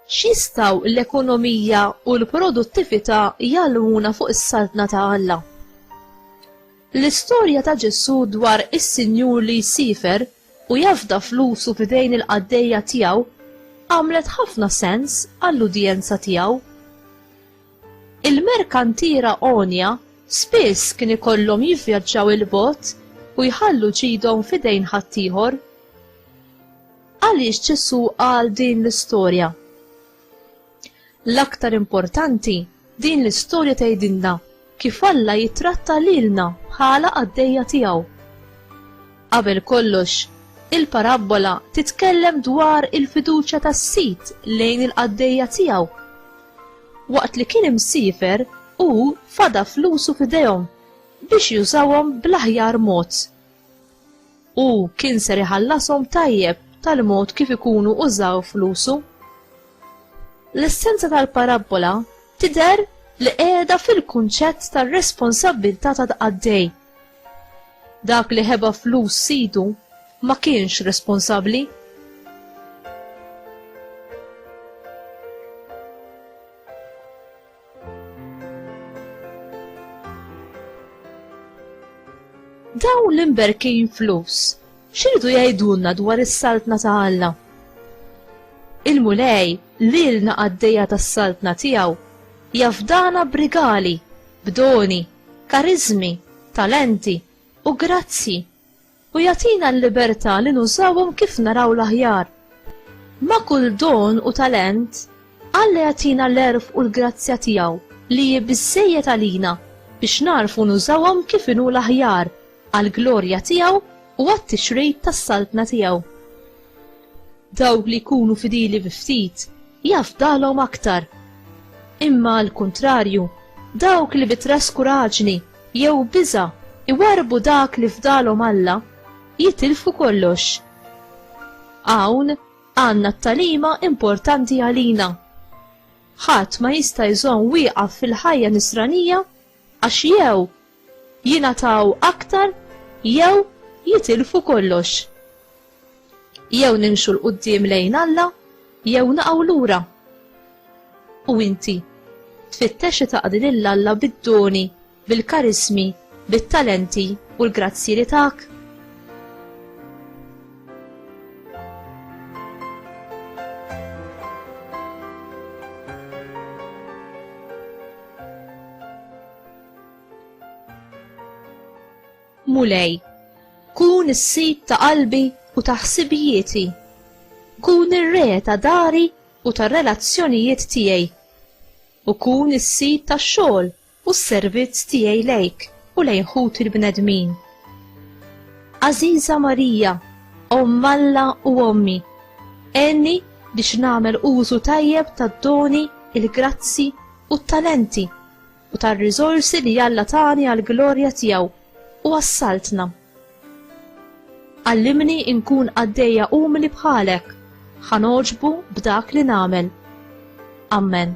xistaw l-ekonomija u l-produttività jgħallmuna fuq is-saltna ta' Alla. L-istorja ta' Ġesù dwar is-Sinjur li jsifer u jafda flusu f'idejn il-qaddejja tiegħu għamlet ħafna sens għall-udjenza tiegħu. Il-merkantiera għonja spiss kien ikollhom jivvjaġġaw 'il bogħod u jħallu ġidhom f'idejn ħaddieħor. Għaliex Ġesù qal din l-istorja? L-aktar importanti, din l-istorja tgħidilna kif Alla jittratta lilna bħala qaddejja tiegħu. Qabel kollox, il-parabbola titkellem dwar il-fiduċja tas-sid lejn il-qaddejja tiegħu Waqt li kien imsiefer, hu fada flusu f'idejhom biex jużawhom bl-aħjar mod. Hu kien ser iħallashom tajjeb tal-mod kif ikunu użaw flusu. L-essenza tal-parabbola tidher li qiegħda fil-kunċett tar-responsabbiltà ta' qaddej. Dak li ħeba flus sidu ma kienx responsabbli. Daw l-imberkin flus, xiridu jgħidulna dwar is-saltna ta' Alla? Il-mulej lilna għaddejja tas-saltna tiegħu jafdana brigali, b'doni, kariżmi, talenti, u grazzji, u jagħtina l-libertà li nużawhom kif naraw l-aħjar. Ma' kull don u talent, Alla jagħtina l-għerf u l-grazzja tiegħu li hi biżżejjed għalina biex nagħrfu nużawhom kif inhu l-aħjar għall-glorja tiegħu u għat-tixrid tas-Saltna tiegħu. Dawk li jkunu fidili bi ftit, jafdalhom aktar. Imma għal kuntrarju, dawk li bi traskuraġni jew biża' iwarrbu dak li fdalhom Alla, jitilfu kollox. Hawn għandna t-tagħlima importanti għalina. Ħadd ma jista' jżomm wieqaf fil-ħajja Nisranija Għax jew jingħataw aktar jew jitilfu kollox. Jew nimxu 'l quddiem lejn Alla jew naqgħu lura. U inti? Tfittex li taqdi lil Alla bid-doni, bil-karismi, bit-talenti u l-grazzji li tak? Mulej, kun is-sid ta' qalbi u ta' ħsibijieti. Kun ir-re ta' dari u tar-relazzjonijiet tiegħi. U kun is-sid tax-xogħol u s-servizz tiegħi lejk u lejn ħuti l-bnedmin. Għażiża Marija, Omm Alla u Ommi, għenni biex nagħmel użu tajjeb tad-doni, il-grazzi, u t-talenti u tar-riżorsi li Alla tani għall-glorja tiegħu u għas-Saltna. Għallimni nkun qaddejja umli bħalek, ħa nogħġbu b'dak li nagħmel. Amen.